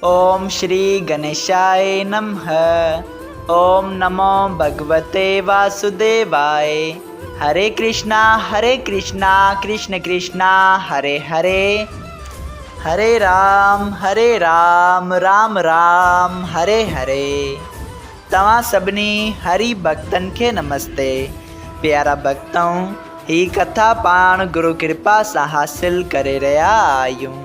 اوم شري گنيشائي نمه اوم نمو ڀڳوتي واسوديواء هري ڪرشنا هري ڪرشنا ڪرشن ڪرشنا هري هري هري رام هري رام رام رام هري هري توهان سڀني هري ڀڳتن کي نمستي پيارا ڀڳتؤ هي ڪٿا پاڻ گرو ڪرپا سان حاصل ڪري رهيا آهيون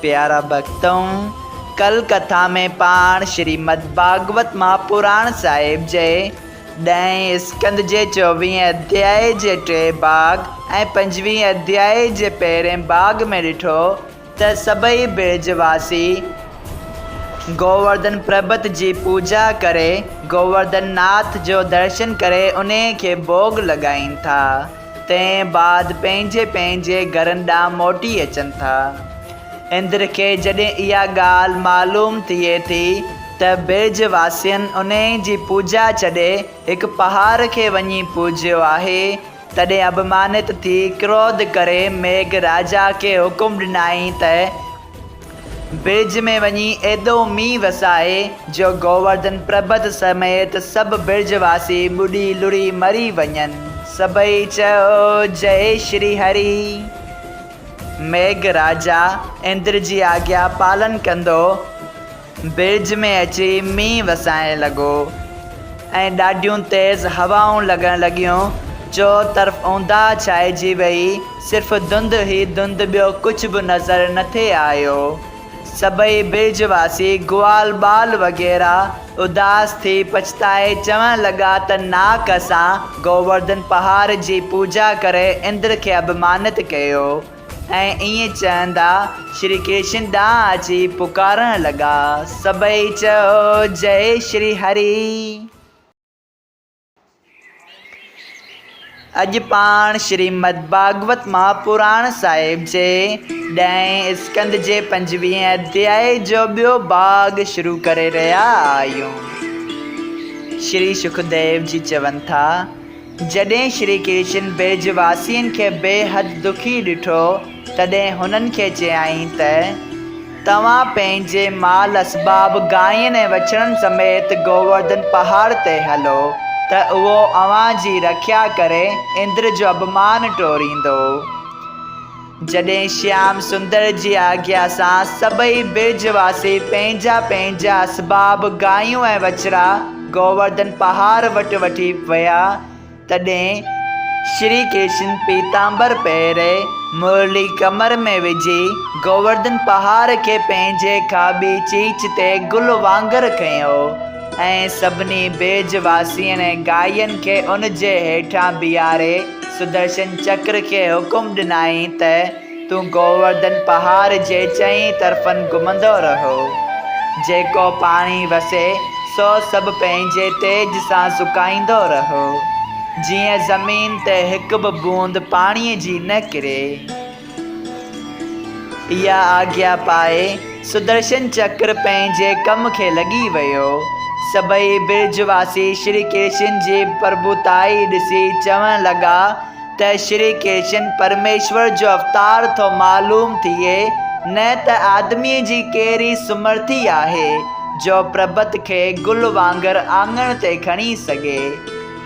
پيارا ڀڳتؤ! ڪل ڪٿا ۾ پاڻ شريمد ڀاڳوت مان پراڻ صاحب جي ڏهين اسڪند جي چوويهين اڌياء جي ٽئين ڀاڳ ۽ پنجويهين اڌياء جي پهرئين ڀاڳ ۾ ڏٺو ته سڀئي برج واسي گوورڌن پربت جي پوڄا ڪري گوورڌن ناٿ جو درشن ڪري انهي کي ڀوڳ لڳائين ٿا. تنهن بعد پنهنجي پنهنجي گهرن ڏانهن موٽي اچن ٿا. اندر کي جڏهن اها ڳالهه معلوم ٿئي ٿي ته برج واسين انهي جي پوڄا ڇڏي هڪ پهاڙ کي وڃي پوڄيو آهي، تڏهن اڀمانت ٿي ڪروڌ ڪري ميگهه راجا کي حڪم ڏنائين ته، برج ۾ وڃي ايڏو مينهن وسائي جو گوورڌن پربت سميت سڀ برج واسي ٻڏي لڙهي مري وڃن. سڀئي چيو جئي شري هري. ميگهراجا اندر جي آگيا پالن ڪندو. برج ۾ اچي مينهن وسائڻ لڳو ۽ ڏاڍيون تيز هوائون لڳڻ لڳيون. چؤطرف اونداهه ڇائجي ويئي، صرف ڌنڌ ئي ڌنڌ ٻيو ڪجهه به نظر نه ٿي آيو. سڀئي برج واسي، گوال ٻال وغيره اداس ٿي پڇتائي چوڻ لڳا ته ناڪ اسان گوورڌن پهاڙ جي پوڄا ڪري اندر کي اپمانت ڪيو. ۽ ائين چوندا شري ڪرشن ڏانهن اچي پڪارڻ لڳا، سڀئي چئو جئي شري هري. اڄ پاڻ شريمد ڀاڳوت مهاپراڻ صاحب جي ڏهين اسڪند جي پنجويهين اڌياء جو ٻيو ڀاڳ شروع ڪري رهيا آهيون. شري شڪديو جي چون ٿا. جڏهن شري ڪرشن برج واسين کي بي حد دکي ڏٺو تڏهن هنن کي چيائين ته توهان پنهنجي مال اسباب گاين ۽ وڇڙن سميت گوورڌن پهاڙ تي هلو ته اهو اوهان جي رکيا ڪري اندر جو اڀمان ٽوريندو. جڏهن شيام سندر جي آجيا سان سڀئي برج واسي پنهنجا پنهنجا اسباب، گايون ۽ وچڙا، گوورڌن پهاڙ وٽ وٺي ويا، تڏهن شري ڪرشن پيتامبر پهري، مرلي ڪمر ۾ وجهي، گوورڌن پهاڙ کي پنهنجي کاٻي چيچ تي گل وانگر کنيو ۽ سڀني برج واسين ۽ گاين کي ان جي هيٺان بيهاري، سدرشن چڪر کي حڪم ڏنائين ته، تون گوورڌن پهاڙ جي چئين طرفن گهمندو رهو. جيڪو پاڻي وسي، سو سڀ پنهنجي تيج سان سڪائيندو رهو، جيئن زمين تي هڪ به بوند پاڻيء جي نه ڪري. اها آجيا پائي سدرشن چڪر پنهنجي ڪم کي لڳي ويو. سڀئي برج واسي شري ڪرشن جي پرڀوتائي ڏسي چوڻ لڳا ته شري ڪرشن پرميشور جو اوتار ٿو معلوم ٿئي نه ته آدميء جي ڪهڙي سمرٿي آهي جو پرڀت کي گل وانگر آڱڻ تي کڻي سگهي.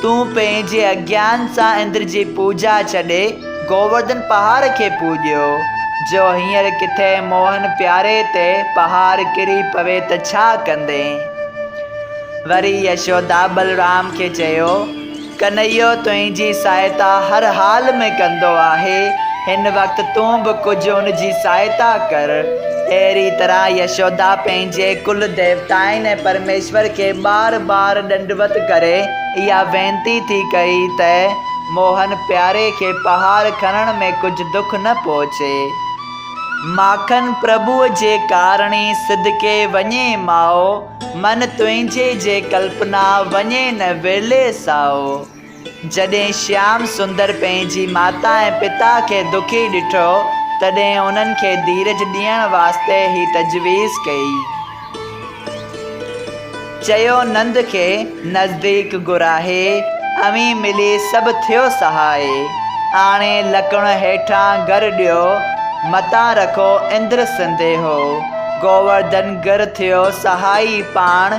تون پنهنجي اگيان سان اندر جي پوڄا ڇڏي گوورڌن پهاڙ کي پوڄيو، جو هينئر ڪٿي موهن پياري تي پهاڙ ڪري پوي ته ڇا ڪندين؟ وري يشودا بلرام کي چيو، ڪنهيو تنهنجي سهائتا هر حال ۾ ڪندو آهي، هن وقت تون به ڪجهه ان جي سهائتا ڪر. اهڙيء طرح يشودا پنهنجي ڪل ديوتائن ۽ پرميشور کي بار بار ڏنڊوت ڪري اها وينتي ٿي ڪئي ته موهن پياري کي پهاڙ کڻڻ ۾ ڪجهه دک نه پهچي. ماکن پرڀوء جي ڪارڻي صدقي وڃي ماء، من تنهنجي جي ڪلپنا وڃي نه ورلي سائو. جڏهن شيام سندر پنهنجي ماتا ۽ پتا کي دکي ڏٺو، تڏهن انهن کي ڌيرج ڏيڻ واسطي هي تجويز ڪئي. چيو نند کي نزديڪ گهرائي، اوهين ملي سڀ ٿيو سهاء. آڻي لڪڻ هيٺان گر ڏيو، متان رکو اندر سنديهو. گوورڌن گر ٿيو سهائي پاڻ.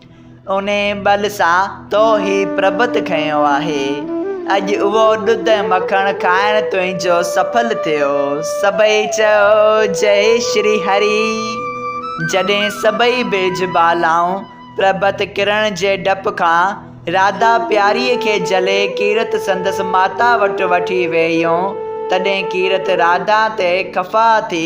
انهيء ٻل سان تو هي پربت کنيو آهي. اڄ اهو ڏڌ ۽ مکڻ کائڻ تنهنجو سڦل ٿيو. سڀئي چيو، جئي شري هري! جڏهن سڀئي برج بالائون پربت ڪرڻ جي ڊپ کان راڌا پياريء کي جهلي ڪيرت سندس ماتا وٽ وٺي ويئيون، تڏهن ڪيرت راڌا تي خفا ٿي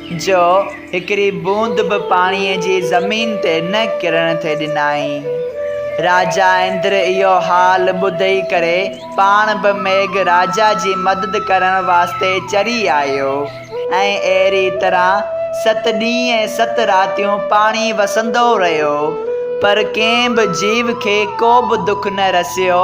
جو هڪڙي بوند به پاڻيء جي زمين تي نه ڪرڻ ٿي ڏنائين. راجا اندر اهو حال ٻڌي ڪري پاڻ به ميگھ راجا جي مدد ڪرڻ واسطي چري آيو ۽ اهڙي طرح ست ڏينهن ۽ ست راتيون پاڻي وسندو رهيو پر ڪنهن به جيو کي ڪو به دک نه رسيو.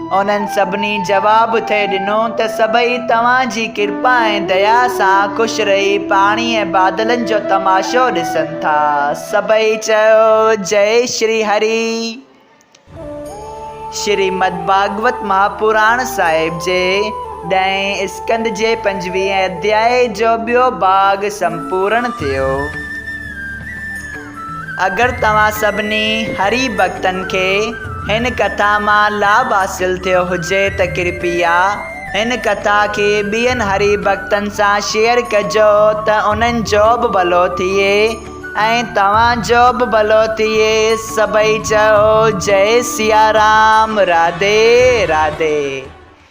انهن سڀني جواب ٿئي ڏنو ته سڀئي توهان جي ڪرپا ۽ ديا سان خوش رهي پاڻي ۽ بادلن جو تماشو ڏسن ٿا. سڀئي چيو جئي شري هري. شريمد ڀاڳوت مهاپراڻ صاحب جي ڏهين اسڪند جي پنجويهين اڌيائي جو ٻيو ڀاڳ سمپورڻ ٿيو. اگر توهان سڀني هري ڀڳتن کي هن ڪٿا مان لاڀ حاصل ٿيو هجي ته ڪرپيا هن ڪٿا کي ٻين هري ڀڳتن سان شيئر ڪجو ته انهن جو به ڀلو ٿئي ۽ توهان جو به ڀلو ٿئي سڀئي چئو جئي سيارام راڌي راڌي.